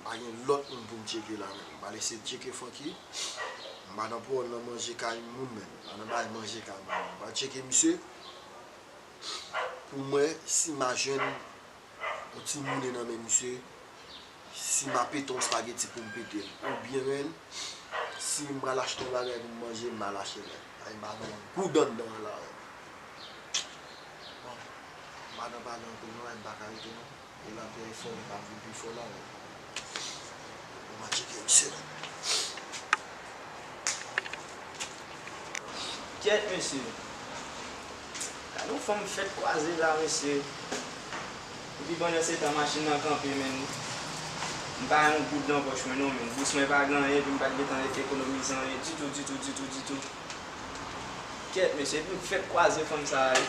M pa gen lòt moun pou m tcheke la menm. M pa lese tcheke Funky. M pa nan pwòl nan manje kay moun menm. M pa nan bay manje kay moun menm. M pral tcheke misye pou m wè si m a jwenn yon ti moune nan men misye, si m a pete yon spageti pou m pete l. Oubyen si m pral achte yon bagay pou m manje, m al achte l. Paske m pa gen yon goud anndan an la. Bon, madan pa gen anpil nway, m pa ka rete non. Ou la pou efò ou pa vle pi fò nan ou. Ou manke gen excellent. Kyèt mesye. Gade yon fanm fèt kwaze la mesye. Epi pandan se tan machin nan kanpe menn. M pa yon goud nan pòch mwen non menn. Bous mwen pa gen anyen epi m pat gen tan ekonomize anyen ditou ditou ditou ditou. Kyèt mesye epi m fèt kwaze fanm sa a wi.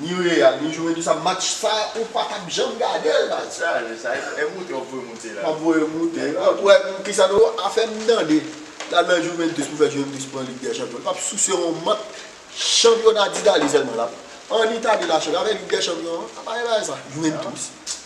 Ni real ni juventusa match sa ou pa tap janm gadel baz. Sa a je sa e moute wap voye moute la. Map voye moute la pou wè kisa nou a fè m tande la nan juventus pou fè juventus pran lig dè chanpyon li pap souse yon mant chanpyona ditali sèlman lap an itali la chèche avè lig dè chanpyon an apa e bagay sa juventus.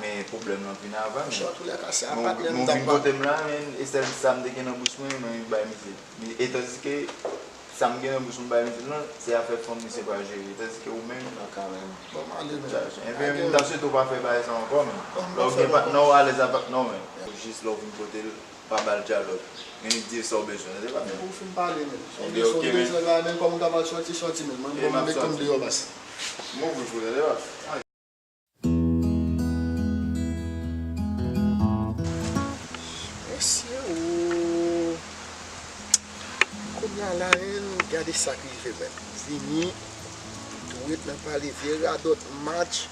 Men pwoblèm lan vin avan men. Chòt ou ya kase a pat lè m tap pale. Nou vin kote m la men e sèl sa m te gen nan bouch mwen mwen bay misye. Etandike sa m gen nan bouch mwen bay misye lan se afè fanm misye pral jere etandike ou menm. Nan ka menm. Banm ale menm. Enben m ta swete w pa fè bagay sa ankò menm. Banm pa fè l ankò. Lè w gen patnè w alèz ak patnè w menm. Jis lè w vin kote l pa ba l dyalòg. Men li di e sa w bezwen tande pa menm. Ou fin pale menm. Sa w bezwen ok menm. Sa w bezwen la menm kòman w kapab sòti sòti menm. Mwen m konn deyò bas. M ouvri pou w tande pa. Mesye ooh Kounya la hein gade sak rive menm Vini dwe nan pale vye radòt match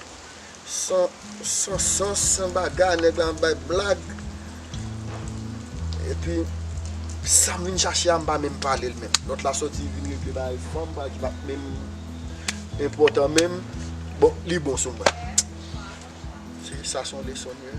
san sans san bagarre nèg la ap bay blag. Epi sam vin chache a m pa menm pale l menm. Lòt la sòti vin regle bagay fanm bagay ki pat menm enpòtan menm. Bon li bon sou mwen. Se sa son leson li ye.